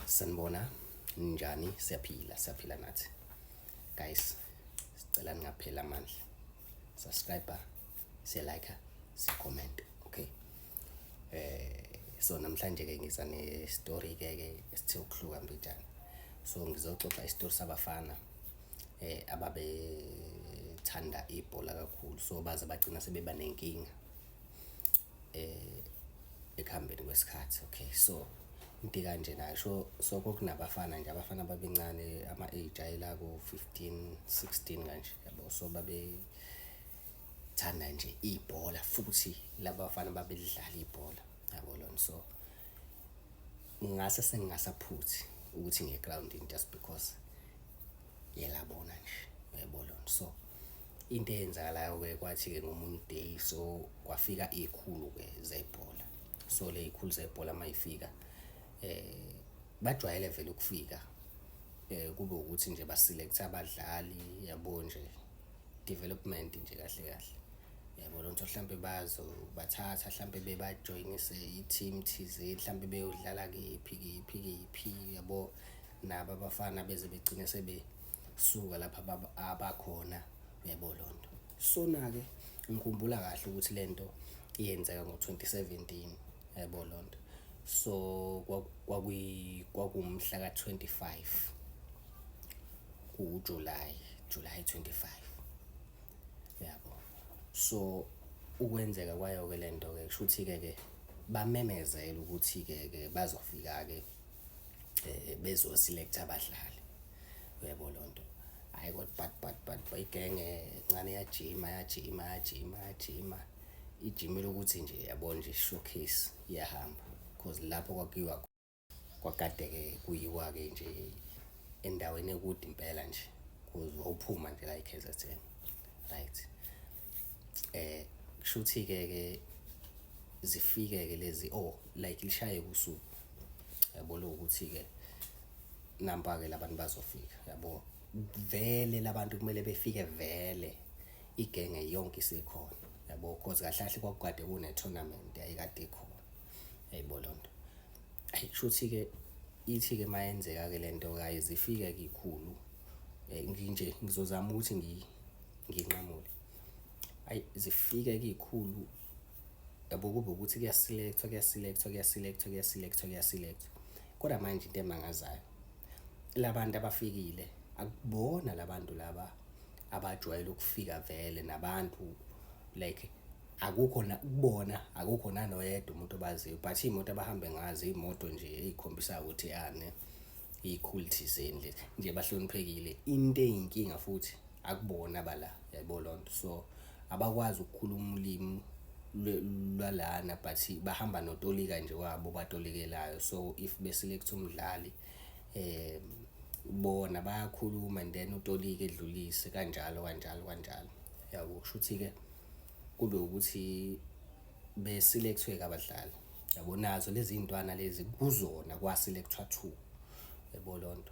sanibona ninjani siyaphila siyaphila nathi guys sicela ningapheli amandla subscribe siyalike sicomment okay eh so namhlanje ke ngiza ne story ke ke esithe ukuhluka mbijana so ngizoxoxa isitori sabafana eh ababe thanda ibhola kakhulu so baze bagcina sebeba nenkinga eh ekuhambeni kwesikhathi okay so into kanje nayo so so kokunabafana nje abafana babencane ama age ayela ku 15 16 kanje yabo so babe thanda nje ibhola futhi labafana babelidlala ibhola yabo lona so ngase sengingasaphuthi ukuthi ngiye ground in just because yelabona nje yebo lona so into eyenzakalayo-ke kwathi-ke ngomunye uday so kwafika iy'khulu-ke zebhola so le y'khulu zebhola uma yifika um bajwayele vele ukufika um kube ukuthi nje basilekthe abadlali yabo nje development nje kahle kahle yabo lonto mhlampe bazo bathatha mhlampe bebajoyinise i-team thizeni mhlampe beyodlala kephi kephi kephi yabo nabo abafana beze begcine sebe suka lapha abakhona uyabo lonto sona ke ngikhumbula kahle ukuthi lento iyenzeka ngo-2017 yabo lonto so kwakuyi kwakumhla ka-25 kuJuly July 25 yabo so ukwenzeka kwayo ke lento ke kushuthi ke ke bamemezela ukuthi ke ke bazofika ke eh bezo select abadlali uyabo lonto hayi kodwa but but but bayigenge ncane yajima yajima yajima yajima ijimile ukuthi nje yabo nje showcase iyahamba because lapho kwakuyiwa kwagadeke kuyiwa ke nje endaweni ekude impela nje kuze wawuphuma nje la iKaizer Chiefs right eh kushuthi ke ke zifike ke lezi oh like lishaye kusuku yabo lokuthi-ke nampa-ke labantu bazofika yabo vele labantu kumele befike vele igenge yonke isikhona yabo cause kahle kahle kwakukade kune-tournament yayikade ikhona yayibo loo nto ayi kushuthi-ke ithi-ke uma yenzeka-ke le nto kaye zifike kikhulu um eh, nginje ngizozama ukuthi nginqamule ayi zifike kikhulu yabo kube ukuthi kuyasilekthwa kuyasilekthwa kuyasilekthwa kuyasilekthwa kuyasilekthwa kodwa manje into emangazayo labantu abafikile akubona labantu laba abajwayele ukufika vele nabantu like akukho kubona akukho nanoyedwa umuntu obaziyo but iy'moto abahambe ngazo iy'moto nje ey'khombisa ukuthi yani iy'khulu thizeni nje bahloniphekile into eyinkinga futhi akubona bala yayibona lonto so abakwazi ukukhuluma ulimi lwalana but bahamba notolika nje wabo batolikelayo so if beselect umdlali eh bona bayakhuluma and then utolika edlulise kanjalo kanjalo kanjalo yabo kusho ukuthi ke kube ukuthi beselectwe kabadlali yabo nazo lezi ntwana lezi kuzona kwaselectwa two yabo lonto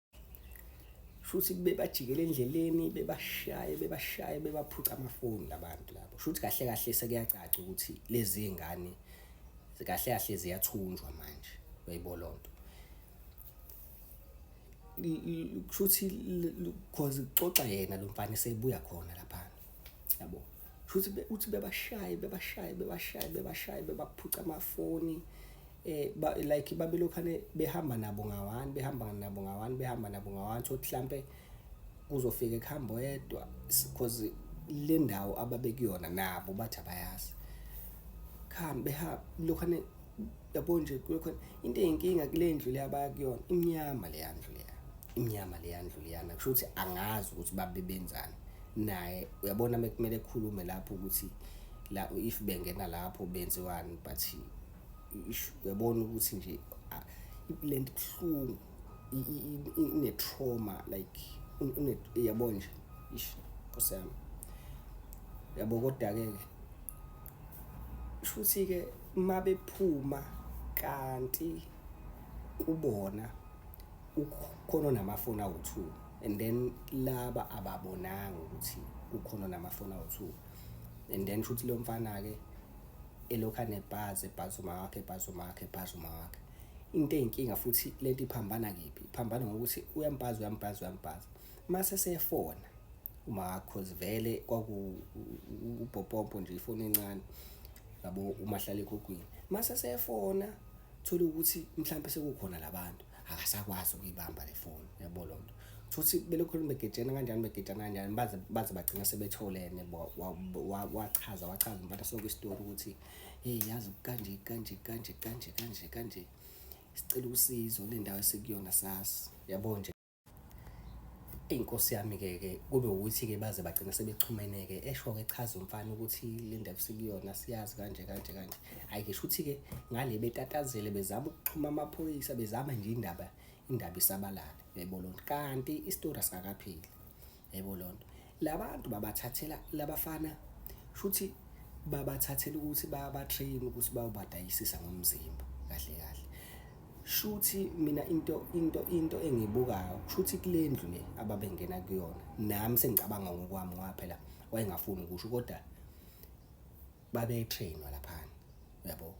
shuthi bebajikela endleleni bebashaye bebashaye bebaphuca amafoni labantu labo shuthi kahle kahle sekuyacaca ukuthi lezi zingane kahle kahle ziyathunjwa manje uyayibo lonto kushuthi because uxoxa yena lo mfana sebuya khona lapha yabo shuthi uthi bebashaye bebashaye bebashaye bebashaye bebaphuca amafoni eh ba, like babelokhane behamba nabo ngawani behamba nabo ngawani behamba nabo ngawani so mhlambe kuzofika ekuhambo yedwa because le ndawo ababekuyona nabo bathi abayazi khambe ha lokhane yabo nje kuyokhona into eyinkinga kule ndlu le abaya kuyona imnyama leya ndlu leya imnyama leya ndlu leyana kusho ukuthi angazi ukuthi babe benzani naye uyabona mekumele ekhulume lapho ukuthi la if bengena lapho benziwani but uyabona ukuthi nje le nto ibuhlungu ine-trauma like uyabona nje ish nkosi yami yabo kodwa-ke shuthi-ke mabephuma kanti kubona ukhona namafoni awu-two and then laba ababonanga ukuthi kukhona namafoni awu-two and then shuthi lo mfana-ke elokhu anebhazi ebhazi uma wakhe ebhazi uma wakhe ebhazi uma wakhe into eyinkinga futhi lento iphambana kephi iphambana ngokuthi uyambhaza uyambhaza uyambhaza mase sefona uma cause vele kwakuubhopompo nje ifoni encane yabo umahlala ekhukhwini mase sefona thola ukuthi mhlawumbe sekukhona labantu akasakwazi ukuyibamba le foni yabo lonto futhi belokhu begejene kanjani begejana kanjani baze baze bagcina sebetholene wachaza wachaza mfana sonke isitori ukuthi hey yazi kanje kanje kanje kanje kanje kanje sicela usizo le ndawo esikuyona sasi yabo nje Inkosi yami ke ke kube ukuthi ke baze bagcina sebexhumene ke esho ke chaza umfana ukuthi le ndaba sikuyona siyazi kanje kanje kanje hayi ke shuthi ke ngale betatazele bezama ukuxhuma amaphoyisa bezama nje indaba indaba isabalale yayibona kanti isitori asikapheli. yebo lonto labantu babathathela labafana shuthi babathathela ukuthi baba train ukuthi bayobadayisisa ngomzimba kahle kahle shuthi mina into into into engibukayo shuthi kulendlu le ababengena kuyona nami sengicabanga ngokwami ngoba phela wayengafuni ukusho kodwa babetrainwa laphana yabo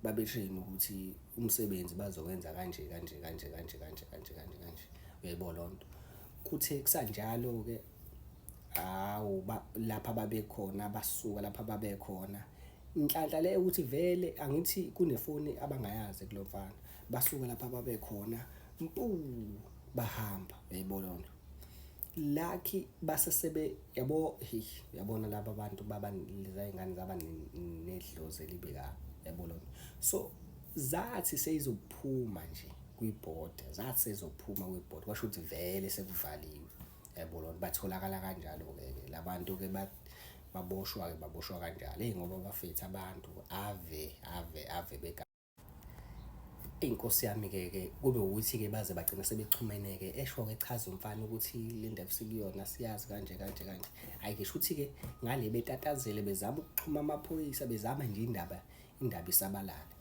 babetrainwa ukuthi umsebenzi bazowenza kanje kanje kanje kanje kanje kanje kanje kanje uyayibona lonto kuthe kusanjalo ke hawu lapha babekhona basuka lapha babekhona inhlanhla le ukuthi vele angithi kunefoni abangayazi kulomfana basuka lapha babekhona mpu bahamba uyayibona lonto lucky base sebe yabo hey yabona laba bantu baba leza ingane zaba nedlozi elibe ka yabo lo so zathi seyizophuma nje kwibhoda zathi sezophuma kwibhoda kwasho ukuthi vele sekuvaliwe yabo lo batholakala kanjalo ke labantu ke ba baboshwa ke baboshwa kanjalo hey ngoba bafethe abantu ave ave ave beka Inkosi yami ke ke kube ukuthi ke baze bagcina sebexhumene ke esho ke chaza umfana ukuthi le ndaba sikuyona siyazi kanje kanje kanje hayi ke shuthi ke ngale betatazele bezama ukuxhuma amaphoyisa bezama nje indaba indaba isabalale